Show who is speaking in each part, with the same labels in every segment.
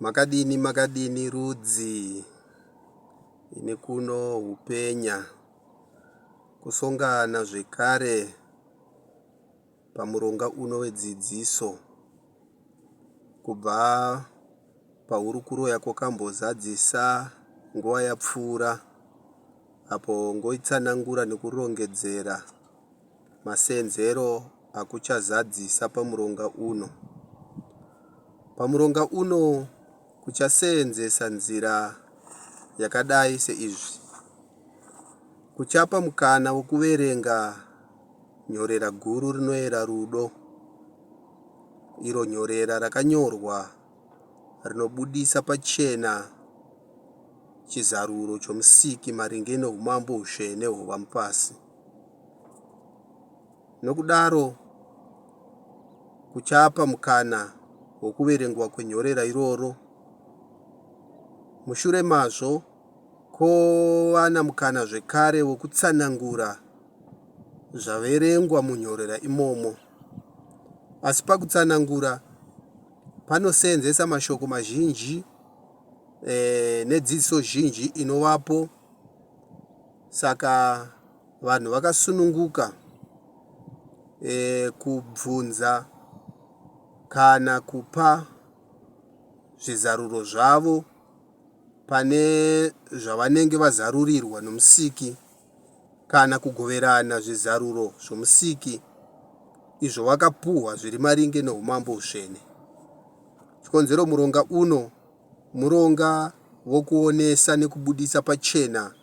Speaker 1: Makadini makadini rudzi ini kuno hupenya kusongana zvekare pamuronga uno wedzidziso kubva pahurukuro yako kambozadzisa nguva yapfuura apo ngoitsanangura nekurongedzera Masenzero akuchazadzisa pamuronga uno. Pamuronga uno kuchaseenzesa nzira yakadai seizvi. Kuchapa mukana wokuverenga nyorera guru rinoera rudo, iro nyorera rakanyorwa rinobudisa pachena chizaruro choMusiki maringe noUmambo hutsvene hwovamupasi. nokudaro kuchapa mukana wokuverengwa kwenyorera iroro. Mushure mazvo, kwova namukana zvekare wokutsanangura zvaverengwa munyorera imomo. Asi pakutsanangura panoseenzesa mashoko mazhinji eh, nedzidziso zhinji inovapo Saka vanhu vakasununguka e, kubvunza kana kupa zvizaruro zvavo pane zvavanenge vazarurirwa nomusiki kana kugoverana zvizaruro zvomusiki izvo vakapuhwa zviri maringe noumambo usvene. Chikonzero muronga uno Muronga vokuonesa nekubuditsa pachena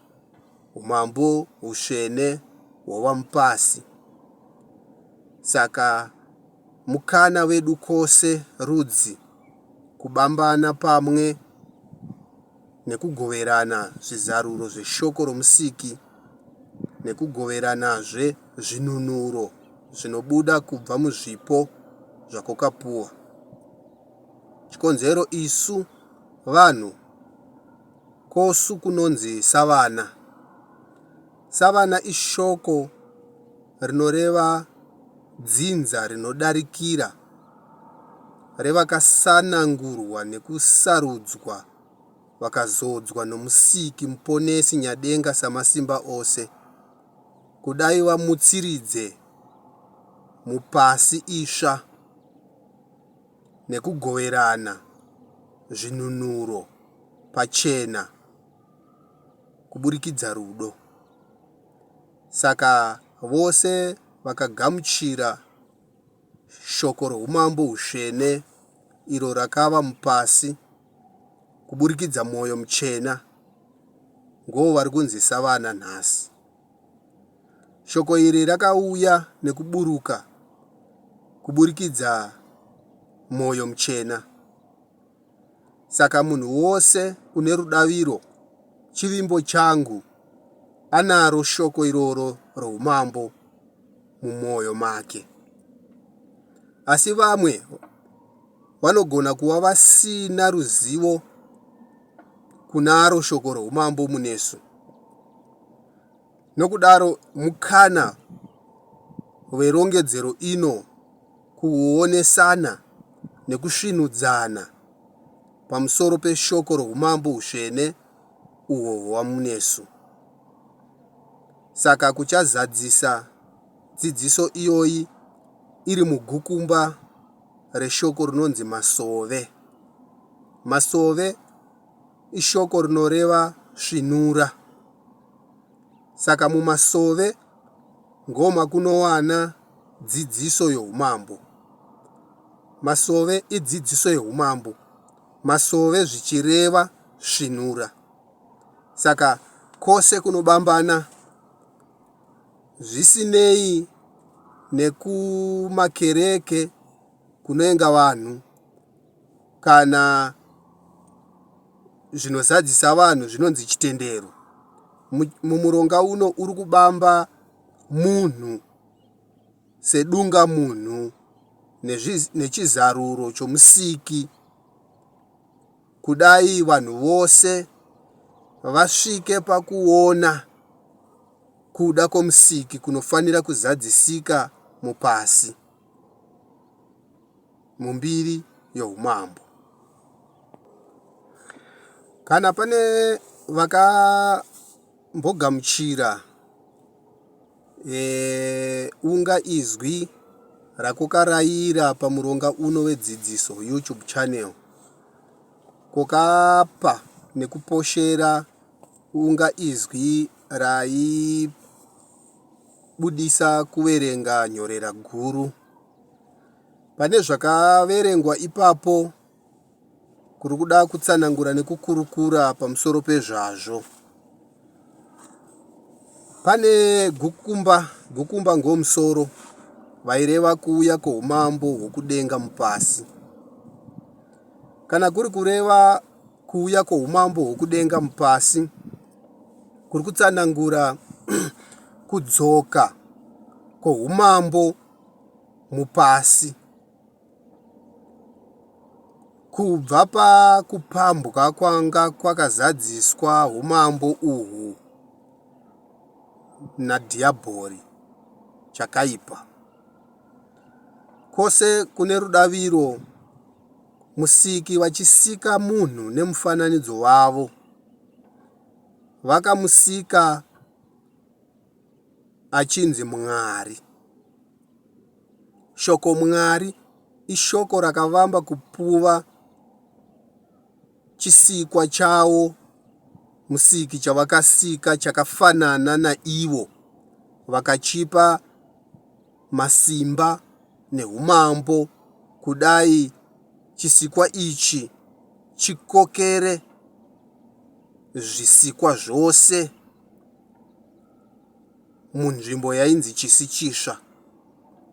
Speaker 1: humambo husvene hwavamupasi. Saka mukana vedu kose rudzi kubambana pamwe nekugoverana zvizaruro zveshoko romusiki nekugoveranazve zvinunuro zvinobuda kubva muzvipo zvakokapuwa. chikonzero isu vanhu kosu kunonzi savana. Savana ishoko rinoreva dzinza rinodarikira revakasanangurwa nekusarudzwa vakazodzwa nomusiki muponesi nyadenga samasimba ose kudai vamutsiridze mupasi isva. nekugoverana zvinunuro pachena kuburikidza rudo. Saka vose vakagamuchira shoko roumambo hutsvene iro rakava mupasi kuburikidza mwoyo muchena ngoo vari kunzi savana nhasi. Shoko iri rakauya nekuburuka kuburikidza Mwoyo Muchena. Saka munhu wose une rudaviro, chivimbo changu, anaro shoko iroro roumambo mumwoyo make. Asi vamwe vanogona kuva vasina ruzivo kunaro shoko roumambo munesu. Nokudaro, mukana werongedzero ino kuonesana nekusvinudzana pamusoro peshoko roumambo usvene uhwo hwamunesu. Saka kuchazadzisa dzidziso iyoyi iri mugukumba reshoko rinonzi masove. Masove ishoko rinoreva svinura. Saka mumasove ngoma kunowana dzidziso youmambo. Masove idzidziso youmambo. Masove zvichireva svinura. Saka kose kunobambana Zvisinei nekumakereke kunoenga vanhu kana zvinozadzisa vanhu zvinonzi chitendero, mumuronga uno uri kubamba munhu sedunga munhu nechizaruro chomusiki Kudai vanhu vose vasvike pakuona kuda kwoMusiki kunofanira kuzadzisika mupasi, mumbiri yoUmambo. Kana pane vaka mbogamuchira unga izwi rakokaraira pamuronga uno wedzidziso youtube channel kokapa nekuposhera unga izwi raipa budisa kuverenga nyorera guru. Pane zvakaverengwa ipapo kuri kuda kutsanangura nekukurukura pamusoro pezvazvo. Pane gukumba, gukumba ngomusoro vaireva kuuya kwoumambo hwokudenga mupasi. Kana kuri kureva kuuya kwoumambo hwokudenga mupasi, kuri kutsanangura kudzoka kwoumambo mupasi. Kubva pakupambwa kwanga kwakazadziswa umambo uhwu nadhiyabhori chakaipa, kwose kune rudaviro, Musiki vachisika munhu nemufananidzo wavo, vakamusika achinzi Mwari. Shoko Mwari ishoko rakavamba kupuva chisikwa chawo musiki chavakasika chakafanana naivo vakachipa masimba neumambo kudai chisikwa ichi chikokere zvisikwa zvose munzvimbo yainzi Chisichisva.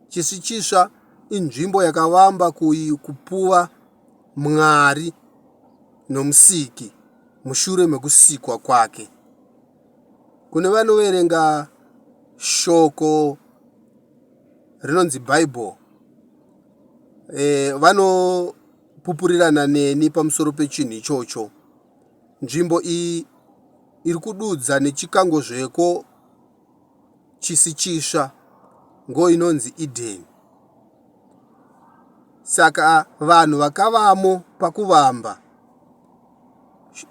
Speaker 1: Chisichisva inzvimbo yakavamba kupuva Mwari nomusiki mushure mekusikwa kwake. Kune vanoverenga shoko rinonzi Bible eh, vanopupurirana neni pamusoro pechinhu ichocho. Nzvimbo iyi iri kududza nechikango zveko chisi chitsva ngo inonzi Eden. Saka vanhu vakavamo pakuvamba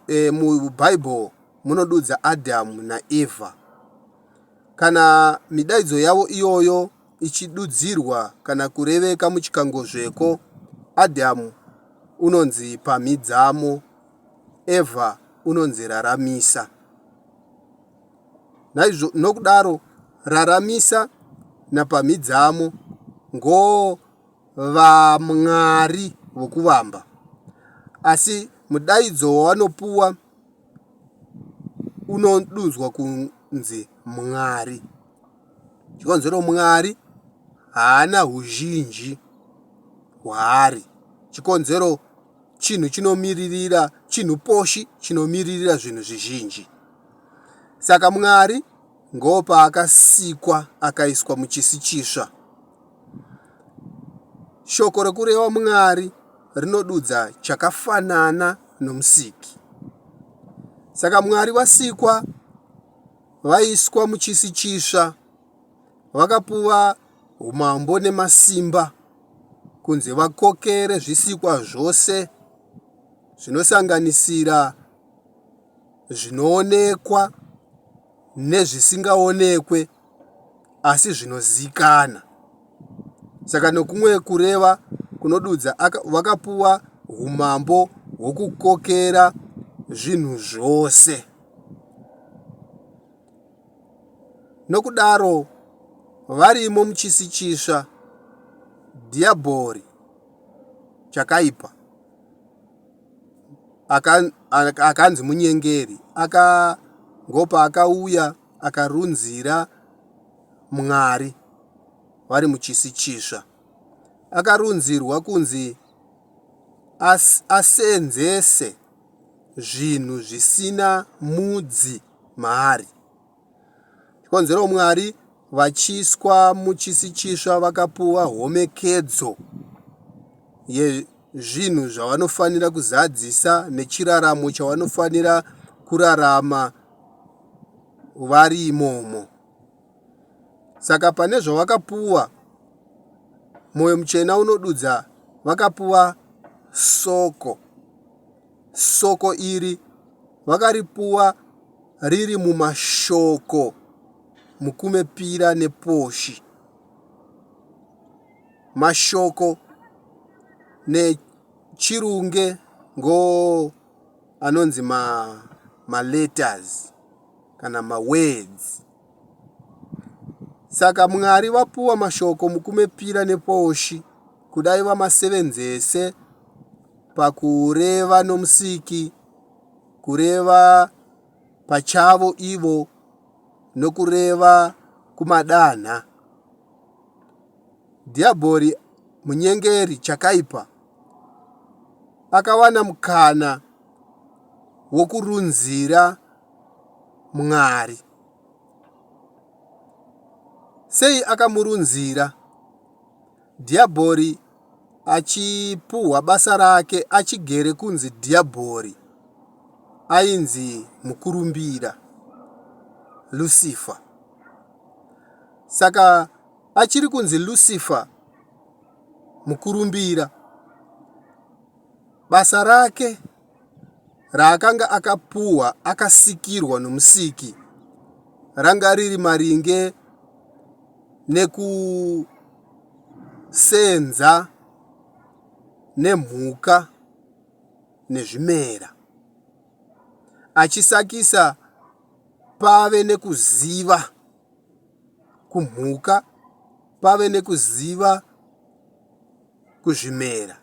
Speaker 1: e, muBhaibheri munodudza Adhamu naEvha. Kana midaidzo yavo iyoyo ichidudzirwa kana kureveka muchikango zveko, Adhamu unonzi pamhidzamo Eva unonzi raramisa. Naizvo, nokudaro, raramisa napamhidzamo ngoo vamwari vokuvamba. Asi mudaidzo wawanopuwa unodudzwa kunzi mwari. Chikonzero mwari haana uzhinji hwaari. Chikonzero chinhu chinomiririra chinhu poshi chinomiririra zvinhu zvizhinji saka mwari ngoopaakasikwa akaiswa muchisi chisva shoko rekureva mwari rinodudza chakafanana nomusiki saka mwari vasikwa vaiswa muchisi chisva vakapuva umambo nemasimba kunzi vakokere zvisikwa zvose zvinosanganisira zvinoonekwa nezvisingaonekwe asi zvinozikana saka nokumwe kureva kunodudza vakapuwa umambo hwokukokera zvinhu zvose Nokudaro, varimo muchisi chitsva, Dhiyabhori chakaipa, akanzi munyengeri, akangopa, akauya, akarunzira Mwari vari muchisi chitsva. Akarunzirwa kunzi asenzese zvinhu zvisina mudzi. maari. Chikonzero Mwari vachiiswa muchisi chisva vakapuwa homekedzo yezvinhu zvavanofanira kuzadzisa nechiraramo chavanofanira kurarama vari imomo. Saka pane zvavakapuwa, mwoyo muchena unodudza vakapuwa soko. Soko iri vakaripuwa riri mumashoko Mukumepira nePoshi. Mashoko neChirunge ngo anonzi ma, ma letters kana ma words. Saka Mwari vapuwa mashoko mukumepira neposhi kudai vamasevenzese pakureva noMusiki, kureva pachavo ivo, nokureva kumadanha. Dhiabhori munyengeri chakaipa akawana mukana wokurunzira Mwari. Sei akamurunzira Dhiabhori achipuhwa basa rake achigere kunzi Dhiabhori ainzi mukurumbira Lucifer. Saka achiri kunzi Lucifer mukurumbira basa rake raakanga akapuhwa akasikirwa nomusiki ranga riri maringe nekusenza nemhuka nezvimera achisakisa pave nekuziva kumhuka pave nekuziva kuzvimera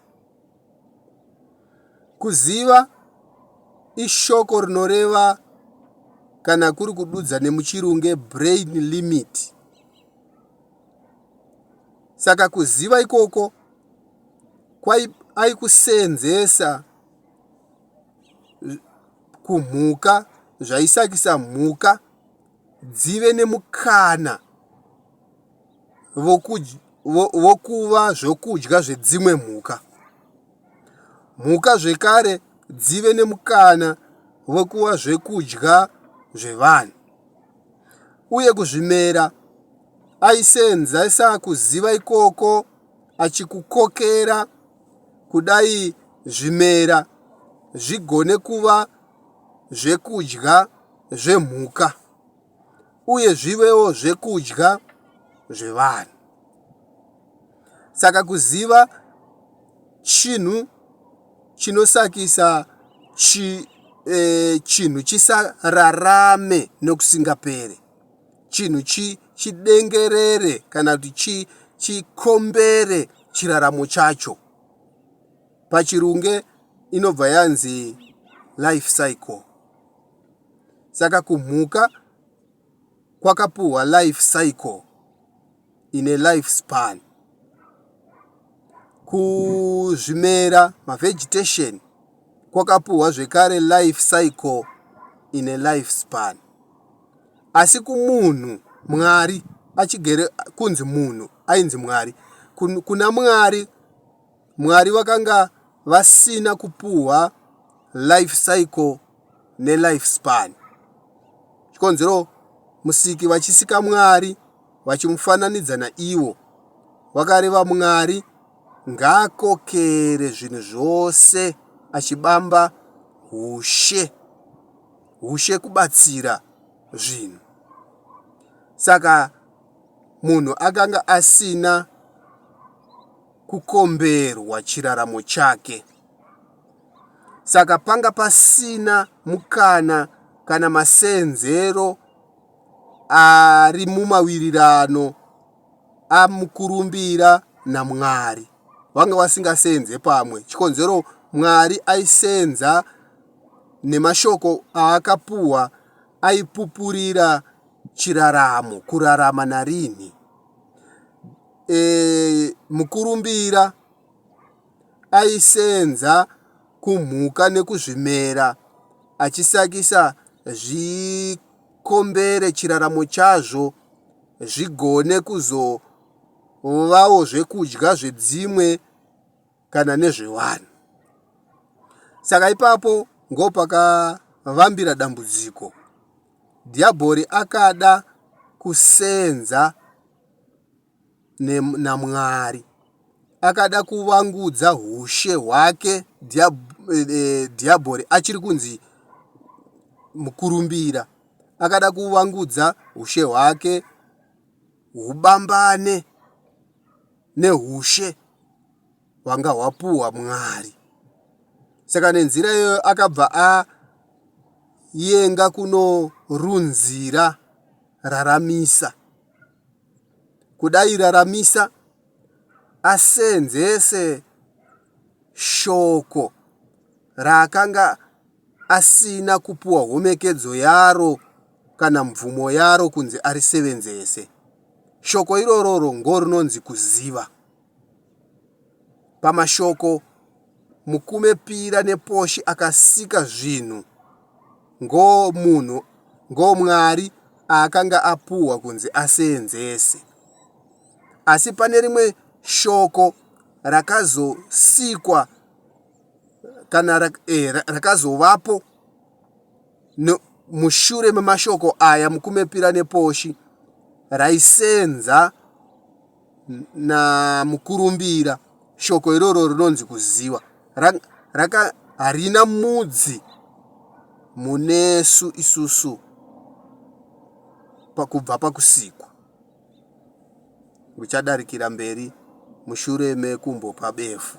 Speaker 1: Kuziva ishoko rinoreva kana kuri kududza nemuchirunge brain limit. Saka kuziva ikoko kwaikusenzesa kumhuka zvaisakisa mhuka dzive nemukana vokuva zvokudya zvedzimwe mhuka. Mhuka zvekare dzive nemukana wekuva zvekudya zvevanhu. Uye kuzvimera aisenzesa kuziva ikoko achikukokera kudai zvimera zvigone kuva zvekudya zvemhuka. uye zvivewo zvekudya zvevanhu. Saka kuziva chinhu chinosakisa chi, eh, chinhu chisararame nokusingapere chinhu chi, chidengerere kana kuti chi, chikombere chiraramo chacho pachirunge inobva yanzi life cycle saka kumhuka kwakapuhwa life cycle ine life span kuzvimera mavegetation kwakapuhwa zvekare life cycle ine life span asi kumunhu mwari achigere kunzi munhu ainzi mwari kuna mwari mwari vakanga vasina kupuhwa life cycle nelife span. Chikonzero Musiki vachisika Mwari vachimufananidza naiwo, vakareva Mwari ngaakokere zvinhu zvose achibamba hushe, hushe kubatsira zvinhu. Saka munhu akanga asina kukomberwa chiraramo chake. Saka panga pasina mukana kana masenzero ari mumawirirano amukurumbira naMwari. Vanga vasingasenze pamwe. Chikonzero Mwari aisenza nemashoko aakapuwa aipupurira chiraramo, kurarama narini. E, mukurumbira aisenza kumhuka nekuzvimera achisakisa zvikombere chiraramo chazvo zvigone kuzovawo zvekudya zvedzimwe kana nezvevanhu. Saka ipapo ngopakavambira dambudziko. Dhiabhori akada kusenza naMwari. Akada kuvangudza hushe hwake Dhiabhori achiri kunzi mukurumbira. Akada kuvangudza hushe hwake hubambane nehushe hwanga hwapuhwa Mwari. Saka nenzira iyoyo akabva a yenga kunorunzira raramisa kudairaramisa asenzese shoko raakanga asina kupuwa homekedzo yaro kana mvumo yaro kunzi arisevenzese. Shoko irororo ngorinonzi kuziva. Pamashoko Mukume Pira nePoshi akasika zvinhu ngo Mwari aakanga apuhwa kunzi aseenzese. Asi pane rimwe shoko rakazosikwa kana rakazovapo mushure memashoko aya Mukume Pira nePoshi raiseenza namukurumbira. Shoko iroro rinonzi kuziva raka harina mudzi munesu isusu pakubva pakusikwa uchadarikira mberi mushure mekumbopa befu.